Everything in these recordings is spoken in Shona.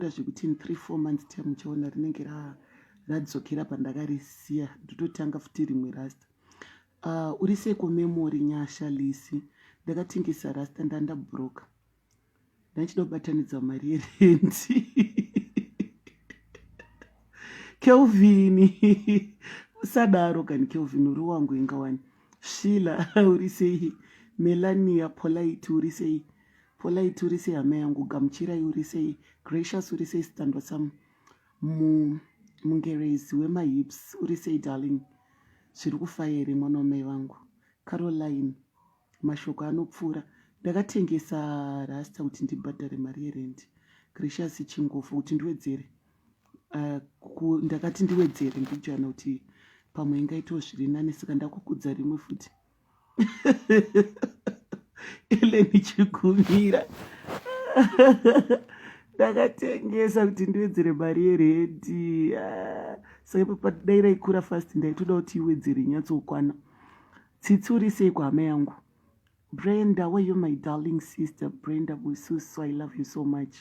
Ndakataura zvekuti in three four months time muchaona rinenge radzokera pandakarisiya ndototanga futi rimwe rasta uh, uri seko memory nyasha lisi ndakatengesa rasta ndandabroka ndachida kubatanidza mari yerendi kelvin usadaro kani kelvin uri wangu ingawani shila uri sei melania polite uri sei Polite uri sei hama yangu, Gamuchirai uri sei, Gracious uri sei sitandwa sam, mu mungerezi wemahips uri sei darling, zviri kufaya here mwana wamai vangu, Caroline mashoko anopfuura, ndakatengesa rasta kuti ndibhadhare mari yerendi, Gracious chingofa kuti ndiwedzere uh, ku, ndakati ndiwedzere ndijana kuti pamwe ingaitawo zviri nani saka ndakukudza rimwe futi eleni chigumira ndakatengesa kuti ndiwedzere mari yeredi ah, saka papa dai raikura fast ndaitoda kuti iwedzere nyatsokwana tsitsi uri sei kuhama yangu brenda where you my darling sister brenda bususu i love you so much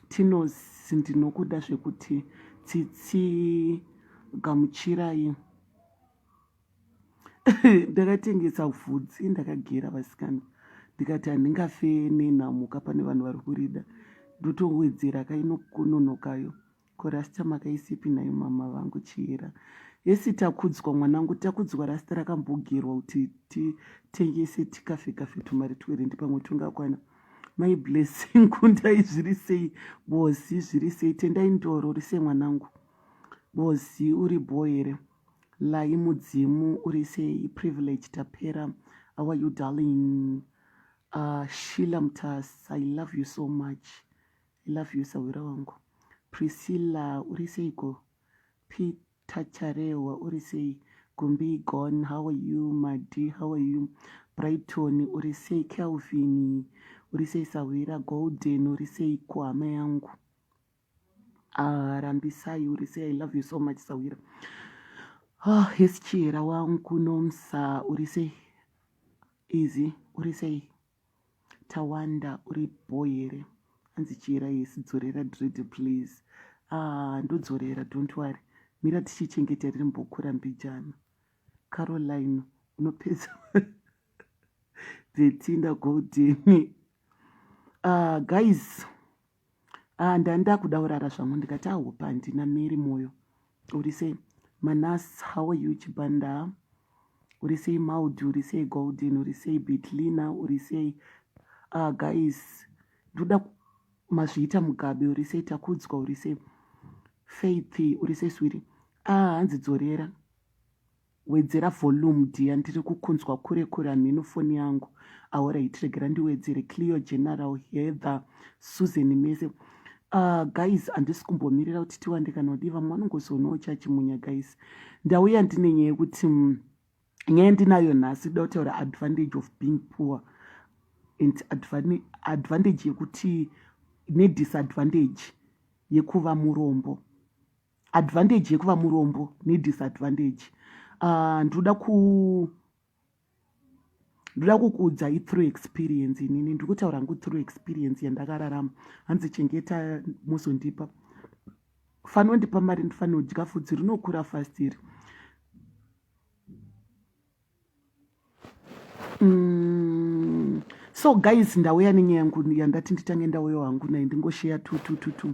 tinos ndinokuda zvekuti tsitsi gamuchirai ndakatengesa vhudzi ndakagera vasikana ndikati handingafe nenhamo ka pane vanhu vari kurida ndotowedzera kainokunonokayo ko rasta makaisipi nayo mama vangu chiyera yesi takudzwa mwanangu takudzwa rasta rakambogerwa kuti titengese tikafe kafe tumari twerendi pamwe tungakwana mai blessing kundai zviri sei bozi zviri sei tendai ndoro rise mwanangu bozi uri bho here Layi mudzimu uri sei privilege tapera how are you darling uh, shila mtas i love you so much i love you sahwira wangu priscilla uri seiko peter charehwa uri sei gumbi gon how are you madi how are you brighton uri sei kelvin uri sei sahwira golden uri seiko hama yangu Ah, rambisai uri sei i love you so much sawira oh hesi chihera wangu nomsa uri sei izi uri sei tawanda uri bho here hanzi chihera hesi dzorera dread please ah ndodzorera don't worry mira tichichengeta riri mbokura mbijana caroline unopedza vetinda goldeni ah guys ah ndandakuda urara zvangu ndikati ahope handina mary moyo uri sei manas how are you chibanda uri sei maudi uri sei golden uri sei bitlina uri sei ah guys ndoda mazviita mugabe uri sei takudzwa uri sei faith uri sei swiri ah hanzi dzorera Wedzera volume dear ndiri kukunzwa kure kure hamheno foni yangu. Alright regera ndiwedzere Cleo General Heather Susan mese. Uh, guys handisi kumbomirira kuti tiwande kana kudii vamwe vanongozoonawo chachimunya guys. Ndauya ndine nyaya yekuti mm, nyaya ndinayo nhasi da kutaura advantage of being poor and advantage yekuti nedisadvantage yekuva murombo. advantage yekuva murombo nedisadvantage ah, ndinoda uh, ku ndoda kukuudza ithrough experience inini ndiri kutaura ngu through experience yandakararama hanzi chengeta mozondipa fanira ndipa mari ndifanira kudya fudzi rinokura fast iri mm. so guys ndauya nenyaya yangu yandati nditange ndauya hangu naye ndingosheya tutututu